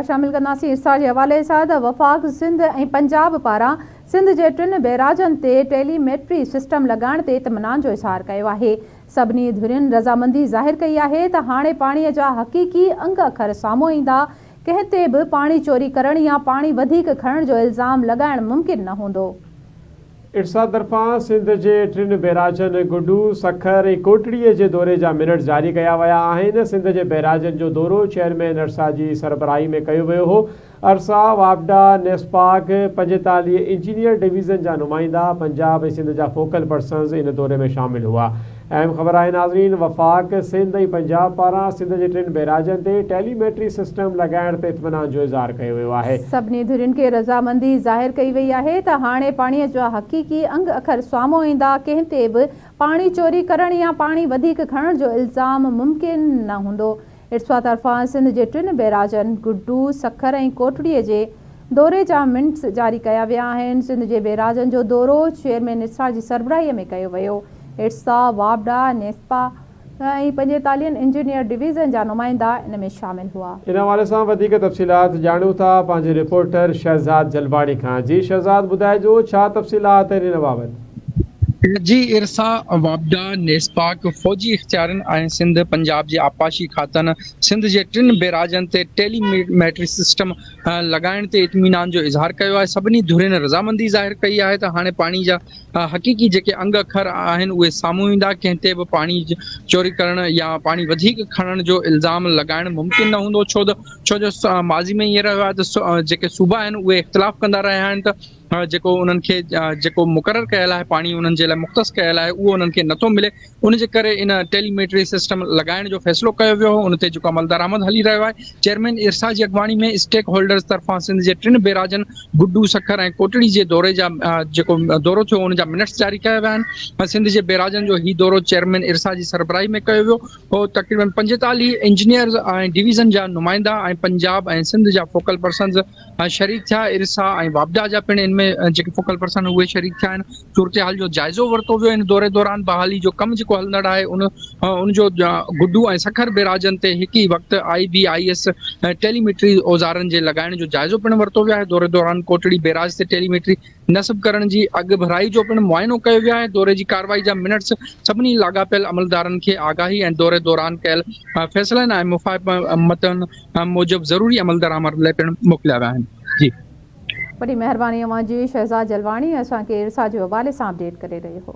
شامل ڪنداسين ارسا جي حوالي سان ته وفاق سنڌ ۽ پنجاب پاران سنڌ جي ٽن بئراجن تي ٽيلي ميٽري سسٽم لڳائڻ تي اطمينان جو اظهار ڪيو آهي سڀني ڌرين رضامندي ظاهر ڪئي آهي ته هاڻي پاڻي جا حقيقي انگ اکر سامهون ايندا ڪنهن تي به پاڻي چوري ڪرڻ يا پاڻي وڌيڪ کڻڻ جو الزام لڳائڻ ممڪن نه هوندو. ارسا طرفان سنڌ جي ٽن بئراجن گڊو، سکر ۽ ڪوٽڙي جي دوري جا منٽس جاري ڪيا ويا آهن، سنڌ جي بئراجن جو دورو چيئرمين ارسا جي سربراهي ۾ ڪيو ويو هو، ارسا، واپڊا، نيسپاڪ، پنجيتاليهه انجنيئر ڊويزن جا نمائندا، پنجاب ۽ سنڌ جا فوڪل پرسنز ان دوري ۾ شامل هئا. اهم خبر آهي ناظرين وفاق سنڌ ۽ پنجاب پاران سنڌ جي ٽن بيراجن تي ٽيلي ميٽري سسٽم لڳائڻ تي اطمينان جو اظهار ڪيو ويو آهي. سڀني ڌرين کي رضامندي ظاهر ڪئي وئي آهي ته هاڻي پاڻي جا حقيقي انگ اکر سامهون ايندا، ڪنهن تي به پاڻي چوري ڪرڻ يا پاڻي وڌيڪ کڻڻ جو الزام ممڪن نه هوندو. ارسا طرفان سنڌ جي ٽن بئراجن گڊو، سکر ۽ ڪوٽڙي جي دوري جا منٽس جاري ڪيا ويا آهن. سنڌ جي بئراجن جو دورو چيئرمين ارسا جي سربراهي ۾ ڪيو ويو. ارسا، واپڊا، نيسپا ۽ پنجيتالين انجنيئر ڊويزن جا نمائندا ان ۾ شامل هئا. ان حوالي سان وڌيڪ تفصيلات ڄاڻيون ٿا پنهنجي رپورٽر شهزاد جلباڻي کان جي شهزاد ٻڌائجو ڇا تفصيلات آهن ان بابت. ڊي جي ارسا واپڊا نيسپاڪ فوجي اختيارين ۽ سنڌ پنجاب جي آبپاشي کاتن سنڌ جي ٽن بيراجن تي ٽيلي ميٽري سسٽم لڳائڻ تي اطمينان جو اظهار ڪيو آهي سڀني ڌرين رضامندي ظاهر ڪئي آهي ته هاڻي پاڻي جا حقيقي جيڪي انگ اکر آهن اهي سامهون ايندا ڪنهن تي به پاڻي چوري ڪرڻ يا پاڻي وڌيڪ کڻڻ جو الزام لڳائڻ ممڪن نه هوندو ڇو ته ڇو جو ماضي ۾ ائين رهيو آهي ته جيڪي صوبا آهن اهي اختلاف ڪندا رهيا آهن ته جيڪو انهن کي جيڪو مقرر ڪيل آهي پاڻي انهن جي لاء مختص ڪيل آهي اهو انهن کي نٿو ملي ان جي ڪري ان ٽيلي ميٽري سسٽم لڳائڻ جو فيصلو ڪيو ويو هو ان تي جيڪو عملدرآمد هلي رهيو آهي چيئرمين ارسا جي اڳواڻي ۾ اسٽيڪ هولڊرز طرفان سنڌ جي ٽن بيراجن گڊو سکر ۽ ڪوٽڙي جي دوري جا جيڪو دورو ٿيو ان جا منٽس جاري ڪيا ويا آهن سنڌ جي بيراجن جو هي دورو چيئرمين ارسا جي سربراهي ۾ ڪيو ويو هو تقريبن پنجيتاليهه انجنيئرز ۽ ڊويزن جا نمائندا ۽ پنجاب ۽ سنڌ جا فوڪل پرسنز شريڪ ٿيا، ارسا ۽ واپڊا جا پڻ ان ۾ جيڪي فوڪل پرسن آهن اهي شريڪ ٿيا آهن، صورتحال جو جائزو ورتو ويو، ان دوري دوران بحالي جو ڪم جيڪو هلندڙ آهي ان جو گڊو ۽ سکر بيراجن تي هڪ ئي وقت آء بي آء ايس ٽيلي ميٽري اوزارن جي لڳائڻ جو جائزو پڻ ورتو ويو آهي، دوري دوران ڪوٽڙي بيراج تي ٽيلي ميٽري نصب ڪرڻ جي اڳڀرائي جو پڻ معائنو ڪيو ويو آهي، دوري جي ڪارروائي جا منٽس سڀني لاڳاپيل عملدارن کي آگاهي ۽ دوري دوران ڪيل فيصلن ۽ مفاهمتن موجب ضروري عملدرآمد لاء پڻ موڪليا ويا آهن. جي. وڏي مهرباني اوهان جي شهزاد جلواڻي اسان کي ارسا جي حوالي سان اپڊيٽ ڪري رهيو هو.